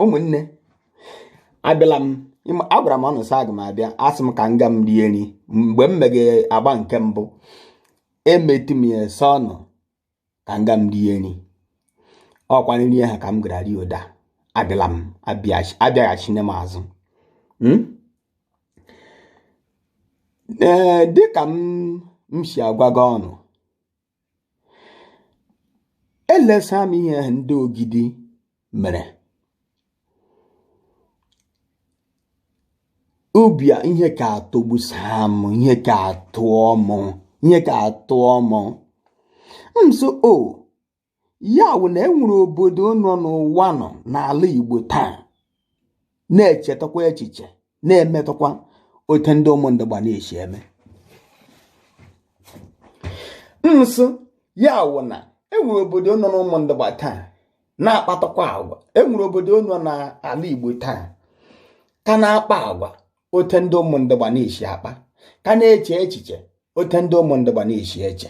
ụmụnne abịala m agwara m unu sị aga m abịa asị m ka m ga m rie nri mgbe m meghe agba nke mbụ emetụ m ya asị unu ka m ga m rie nri ọkwa nri ha ka m gara rie ụda abịala m abịaghachine m azụ hmm? ee dịka m si agwaga unu elesa m ihe ndị ogidi mere obi a ihe ka atọgbusaa m ihe ka atọ m ihe ka atọ m ụsọ o ya wụ na enwere obodo nọ n'ụwa nọ n'ala Igbo taa na-echetakwa echiche na-emetakwa otu ndị ụmụ ndị Igbo na-esi eme so ya wụ na enwere obodo nọ n'ụmụ ndị Igbo taa na-akpatakwa agwa enwere obodo nọ n'ala Igbo taa ka na-akpa agwa otu ndị ụmụ ndị Igbo na-esi akpa ka na-eche echiche otu ndị ụmụ ndị Igbo na-esi eche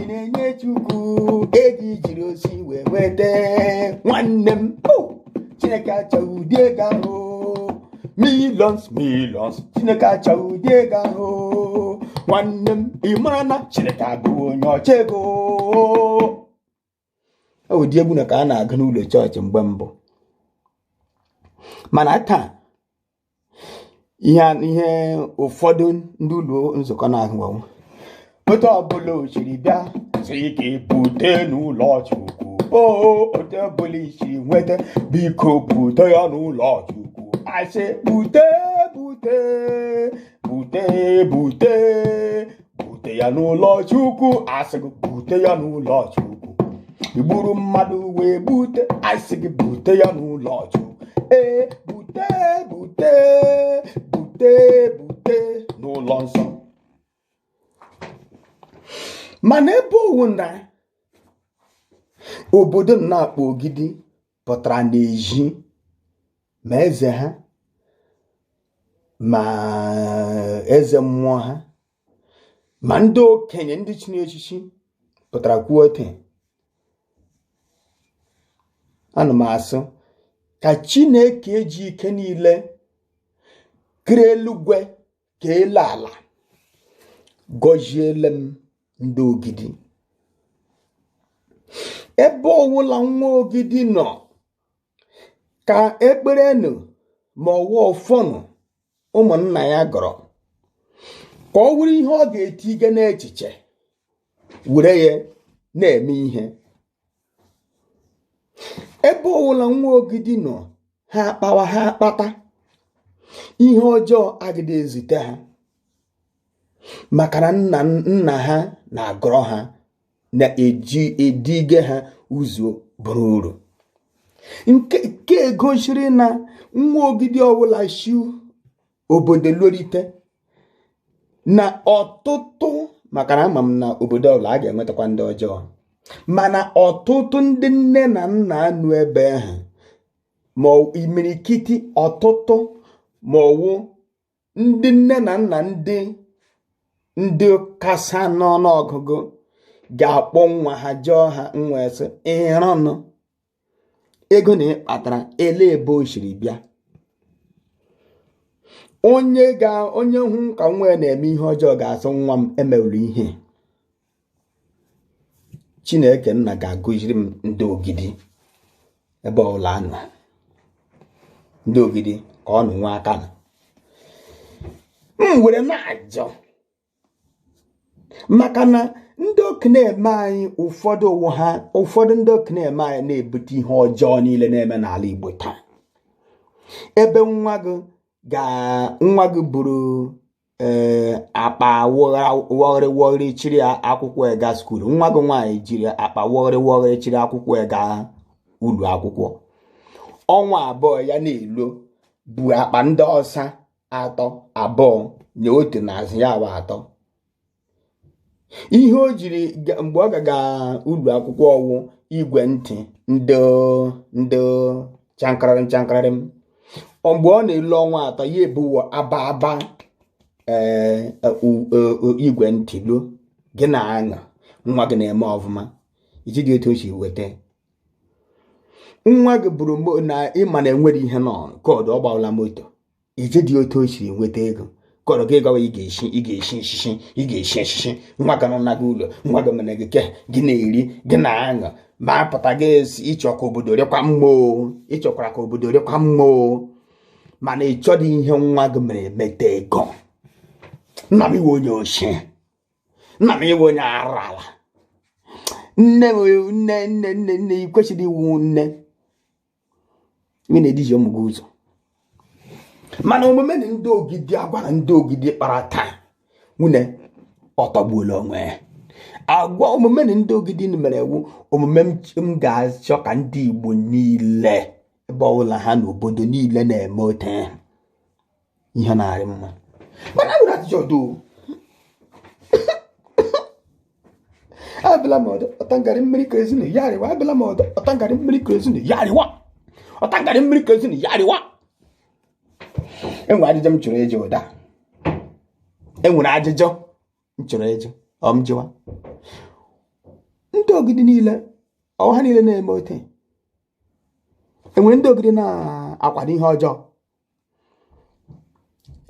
ị na-enye chukwu ego i jiri osi wee nweta nwanne m chineke achọghị ụdị ego ahụ millions millions chineke achọghị ụdị ego ahụ nwanne m ị mara na chineke abụghị onye ọchọ ego e ụdị egwu na ka a na-agụ n'ụlọ chọọchị mgbe mbụ mana taa ihe ụfọdụ ndị ụlọ nzukọ na-ahụga wụ otu ọbụla o siri bịa sị ka e bute n'ụlọ chukwu o otu ọbụla i si nweta biko bute ya n'ụlọ chukwu asị bute bute bute bute bute ya n'ụlọ chukwu asị gị bute ya n'ụlọ chukwu i gburu mmadụ wee bute asị gị bute ya n'ụlọ chukwu ee bute bute bute bute n'ụlọ nsọ mana ebe ọ wụ na obodo na-akpọ ogidi pụtara n'ezi ma eze ha ma eze mmụọ ha ma ndị okenye ndị chiri echichi pụtara kwuo ote ana m asị ka chineke ji ike niile kere eluigwe ka elu ala gọziele m ndị ogidi ebe ọwụla nwa ogidi nọ ka ekpere nụ ma ọ wụ ọfọ nụ ụmụnna ya gọrọ ka ọ wụrụ ihe ọ ga-etige n'echiche were ya na-eme ihe ebe ọwụla nwa ogidi nọ ha akpawa ha akpata ihe ọjọọ agịdị ezute ha maka na nna nna ha na-agọrọ ha na-eji edige ha ụzọ bụrụ uru nke nke e gosiri na nwa ogidi ọbụla shi obodo lorite na ọtụtụ maka na ama m na obodo ọbụla a ga-enwetakwa ndị ọjọọ mana ọtụtụ ndị nne na nna nọ ebe ahụ ma imirikiti ọtụtụ ma ọ wụ ndị nne na nna ndị ndị kasa n'ọnụ ọgụgụ ga-akpọ nwa ha jụọ ha nwa sị ịrọnụ ego na ị kpatara ele ebe o siri bịa onye ga onye hụ ka nwa ya na-eme ihe ọjọọ ga-asị nwa m emewuru ihe chineke nna ga-agọziri m ndị ogidi ebe ọbụla ha nọ ndị ogidi ka ọ nụ nwa aka na m were na-ajọ maka na ndị okenye ime anyị ụfọdụ ọ wụ ha ụfọdụ ndị okenye ime anyị na-ebute ihe ọjọọ niile na-eme n'ala Igbo taa ebe nwa gị ga nwa gị buru ee eh, akpa wọgharị wọgharị chiri akwụkwọ ega skuul nwa gị nwaanyị jiri akpa wọgharị wọgharị chiri akwụkwọ ega ụlọ akwụkwọ ọnwa abụọ ya na-elo bu akpa ndị ọsa atọ abụọ nye otu n'azụ ya bụ atọ ihe o jiri mgbe ọ gaga ụlọ akwụkwọ ọ wụ igwe ntị ndị ndị chankarịrị nchankarịrị m mgbe ọ na-elu ọnwa atọ ya ebuwo aba aba ee e, e, e, igwe ntị lo gị na-aṅụ nwa gị na-eme ọfụma ị jụdị otu o si weta nwa gị bụrụ na ị ma na e nwere ihe nọ koodu ọ gbawala moto ị jụdị otu o siri nweta ego kọrọ gị gawa ị ga-esi ị ga-esi nsisi ị ga-esi nsisi nwa gị nọ gị ụlọ nwa gị mere gị ke gị na-eri gị na-aṅụ ma a pụta gị asị ị chọ ka obodo rịkwa mma o ị chọkwara ka obodo rịkwa mma o mana ị chọdị ihe nwa gị mere meta ego nna m ị wụ onye oshi nna m ị wụ onye arụ ala nne nne nne nne nne ị kwesịrị ịwụ nne ị na-eduhie ụmụ gị ụzọ mana omume na ndị ogidi agwa na ndị ogidi kpara taa nwunne ọ tọgbuola onwe ya agwa omume na ndị ogidi mere wụ omume m ga-achọ ka ndị Igbo niile ebe ọbụla ha nọ obodo niile na-eme ote ihe na-arị mma mana enwere ajụjụ ọdụ abịala m ọdọ ọtangarị mmiri ka ezinu ya arịwa abịala m ọdọ ọtangarị mmiri ka ezinu ya arịwa ọtangarị mmiri ka ezinu ya arịwa enwere ajụjụ m chọrọ ịjụ ụda enwere ajụjụ m chọrọ ịjụ ọ m jụwa ndị ogidi niile ọ wụ ha niile na-eme ote enwere ndị ogidi na-akwado ihe ọjọọ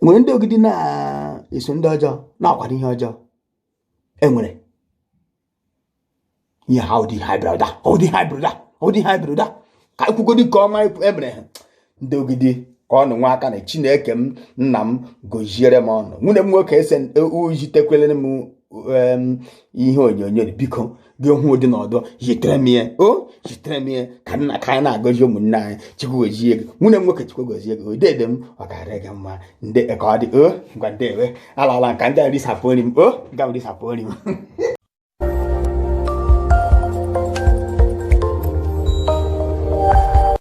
nwere ndị ogidi na-eso ndị ọjọọ na-akwado ihe ọjọọ enwere ihe ha ụdị ha brọda ụdị ha brọda ụdị ha brọda ka ekwugodi nke ọma emere ha ndị ogidi ka ọnụ nwa aka na chineke m nna m goziere m ụnụ nwunne m nwoke ese ujitekwelere m ihe onyonyo biko gị hụ ụdị na ọdọ zitere m ya o zitere m ya ka nna ka anyị na-agọzi ụmụnne anyị chukwu gozie gị nwunne m nwoke chukwu gozie gị dede m ọ ga-arị gị mma ndị ka ọ dị o ngwa ndewo alala m ka ndị a risapụ nri m o ka m risapụ nri m